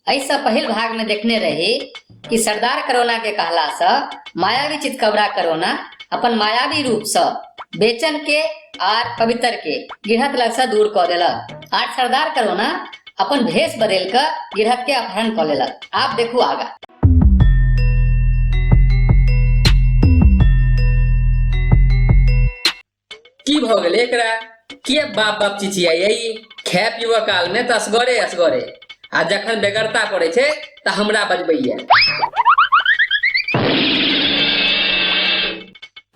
एहिसँ पहिल भागमे देखने रही कि सरदार करोनाके कहलासँ मायावी चितकबरा करोना अपन मायावी रूपसँ बेचनके आर पवित्रके गिरहत लगसँ दूर कऽ देलक आर सरदार करोना अपन भेष बदलि कऽ गिरहतके अपहरण कऽ लेलक आब देखू आगाँ की भऽ गेलै एकरा किए बाप बाप चिचियाइए ई खाय पीबऽ कालमे तऽ असगरे असगरे आ जखन बेगरता पड़ै छै तऽ हमरा बजबैए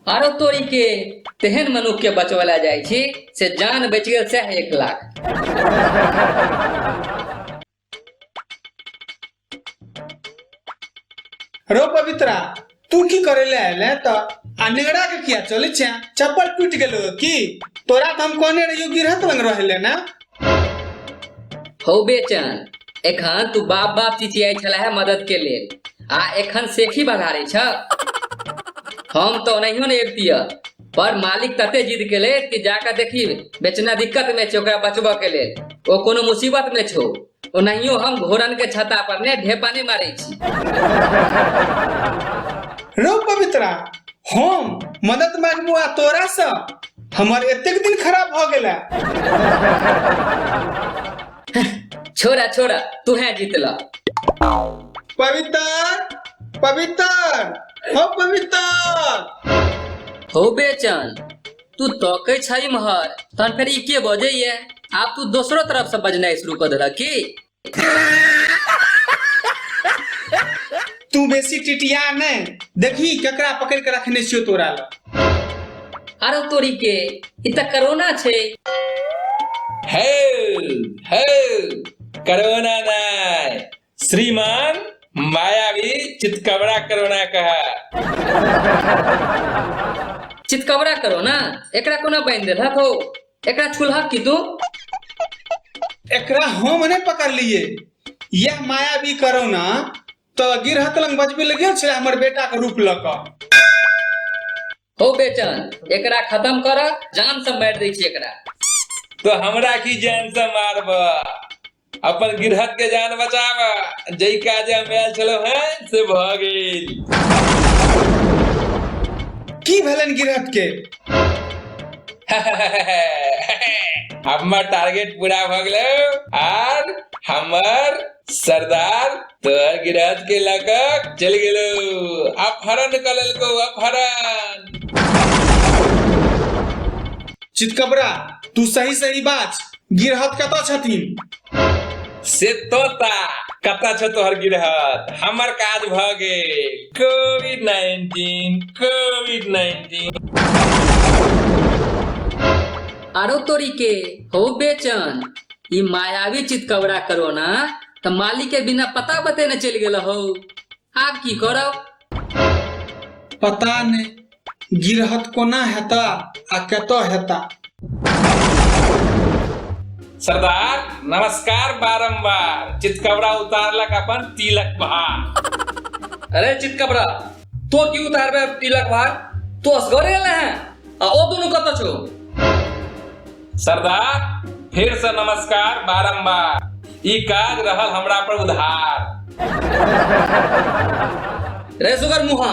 आरो तोरी के तेहन मनुख के बचवला जाइ छी से जान बचि गेल सएह एक लाख रो पवित्रा तू की करे ले आयल है तो आ नेगड़ा के किया चले छे चप्पल टूट गेलो की तोरा तो हम कहने रहियो गिरहत लंग रहले ना हौ बेचन एखन तू बाप बाप चिचियाइ छला है मदद के लेल आ एखन सेखी बघारे छ हम तो ओनाहियो ने एबतिया पर मालिक तते जिद के लेल कि जाकर देखी बेचना दिक्कत में छे ओकरा बचबऽ के लेल ओ कोनो मुसीबत में छो ओनाहियो हम घोड़न के छता पर ने ढेपा नहीं मारे छी रो पवित्रा हम मदद मांगबो आ तोरा से हमर एतेक दिन खराब भ गेला छोरा छोरा तू है जीतला पवित्र पवित्र हो पवित्र हो बेचन तू तकै छै महर तहन फेर ई के बजे ये आब तू दोसरो तरफ से बजनाइ शुरू कर देलक की तू बेसी टिटिया नहीं देखी ककरा पकड़ के रखने छियो तोरा ल अरे तोरी के इ त कोरोना छै हेल्प हेल्प कोरोना नहीं श्रीमान मायावी चितकबरा कोरोना कहा चितकबरा कोरोना एकरा कोना बांधि देलक हो एकरा छुलहक की तू एकरा हम नहि पकड़लिए यह मायावी करोना तो गिरहत लग बजबे लगे छे हमर बेटा के रूप लक हो बेचन एकरा खत्म कर जान से मार दे छी एकरा तो हमरा की जान से मारबा अपन गिरहत के जान बचावा जई काजे हम आयल छलो हैं से भ गेल की भेलन गिरहत के हमर टारगेट पूरा भ गेलो आर हमर सरदार तोहर गिरहत के लकक चल गेलो अपहरण क लेलको अपहरण चितकबरा तू सही सही बात गिरहत कतऽ छथिन से तोता कतऽ छ तोहर गिरहत हमर काज भ गेल कोविड नाइन्टीन कोविड नाइन्टीन आरो तोरी के हो बेचन ई मायावी चितकबरा करो ना त मालिक के बिना पता बतेने चलि गेल हो आब की करब पता नहि गिरहत कोना हेता आ कतऽ हेता सरदार नमस्कार बारंबार चितकबरा उतारलक अपन तिलक भार अरे चितकबरा तो की उतारबे तिलक भार तो असगरे ले हैं आ ओ दोनों कत छो सरदार फिर से नमस्कार बारंबार ई काज रहल हमरा पर उधार रे सुगर मुहा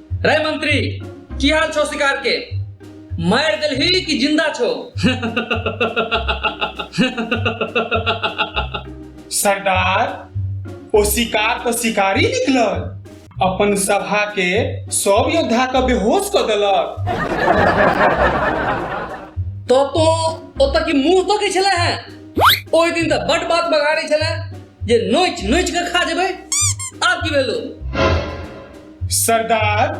रे मंत्री की हाल छो शिकार के मार देलही कि जिंदा छो सरदार ओ शिकार तो शिकारी निकलल अपन सभा के सब योद्धा के बेहोश कर देलक तो तो ओत की मुंह तो के छले हैं ओहि दिन तो बट बात बगाड़े छले जे नोच नोच के खा जेबे आब की भेलो सरदार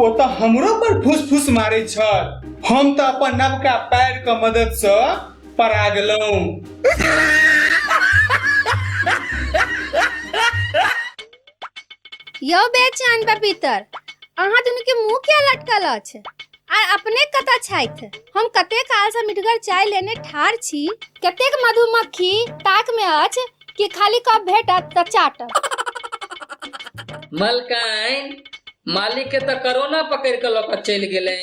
ओ तऽ हमरो पर फुस फुस मारे छल हम तऽ अपन नवका पैर के मदद से परा गेलहुं यौ बेचान पपीतर अहाँ दुनू के मुंह किया लटकल अछि आ अपने कतऽ छथि हम कते कालसँ मिठगर चाय लेने ठाढ़ छी कतेक मधुमक्खी ताकमे अछि कि खाली कप भेटत तऽ चाटब मलकाइन मालिक के तऽ कोरोना पकड़ के लऽ के चलि गेलै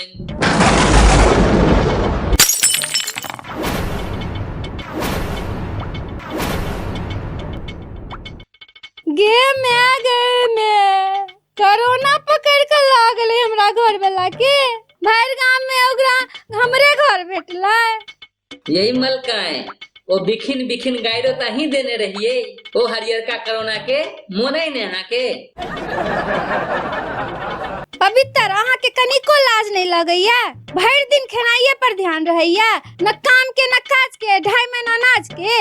गे माय गे माय कोरोना पकड़ के लऽ गेलै हमरा घर वाला के भरि गाम में ओकरा हमरे घर भेटलै यही मलकाय ओ बिखिन बिखिन गायरो त ही देने रहिए ओ हरियरका कोरोना के मोने ने अहाँ के पवित्र अहाँ के कनिको लाज नहीं लगैया भरि दिन खेनाइये पर ध्यान रहैया न काम के न काज के ढाई में न अनाज के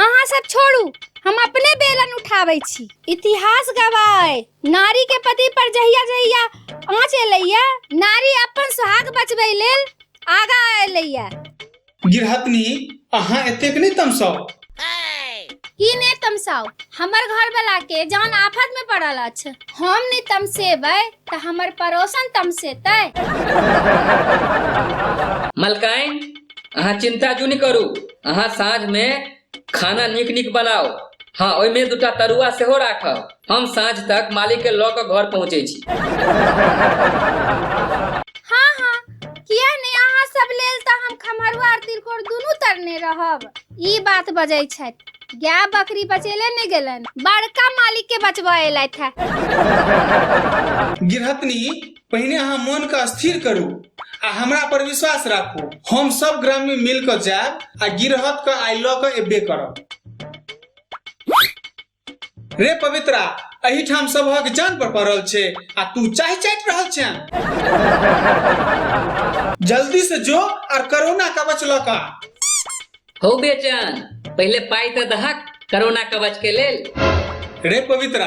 अहाँ सब छोड़ू हम अपने बेलन उठाबै छी इतिहास गवाए नारी के पति पर जहिया जहिया आँच एलैया नारी अपन सुहाग बचबै लेल आगा एलैया गिरहतनी अहाँ एतेक नहि तमसाउ की ने तमसाउ हमर घर वाला के जान आफत में पड़ल अछि हम ने तमसेबै तऽ हमर पड़ोसन तमसेतै मलकाइन अहाँ चिंता क्यों नहीं करू अहाँ साँझ में खाना नीक नीक बनाउ हँ ओहिमे दूटा तरुआ सेहो राखब हम साँझ तक मालिकके लऽ कऽ घर पहुँचै छी हाँ हाँ किया नहि अहाँ सब लेल तऽ हम खमहरुआ आर तिलकोर दुनू तरने रहब ई बात बजै छथि गाय बकरी बचेले नहि गेलन बड़का मालिक के बचबऽ एलथि है गिरहतनी पहिने अहाँ मन के स्थिर करू आ हमरा पर विश्वास राखू हम सब ग्रामी मिल के जायब आ गिरहत के आइ लऽ के एबे करब रे पवित्रा एहिठाम सबहक जान पर पड़ल छै आ तू चाय चाटि रहल छै जल्दी से जो आर कोरोना कवच लऽ कऽ आ। हो बेचन पहिले पाई तऽ दहक कोरोना कवच के लेल रे पवित्रा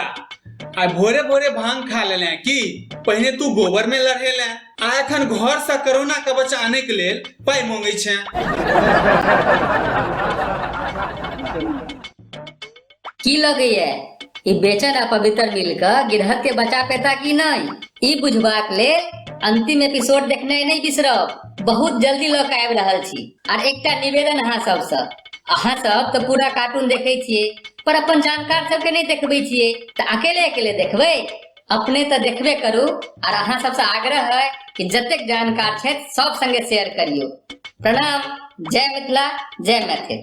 आ भोरे भोरे भांग खा लेले हैं की पहिने तू गोबर में लड़े ले आ एखन घर से कोरोना के बच्चा आने के लेल पाई मांगे छे की लगैए ई बेचन आ पवित्र मिलकर गिरहत के बचा पेता कि नहीं ई बुझबाक लेल अंतिम एपिसोड देखने नहीं बिसरब बहुत जल्दी लऽ के आबि रहल छी आर एकटा निवेदन अहाँ सबसँ अहाँ सब तऽ पूरा कार्टून देखै छियै पर अपन जानकार सबके नहि देखबै छियै तऽ अकेले अकेले देखबै अपने तऽ देखबे करू आर अहाँ सबसँ आग्रह है कि जतेक जानकार छथि सब संगे शेयर करियौ प्रणाम जय मिथिला जय मैथिल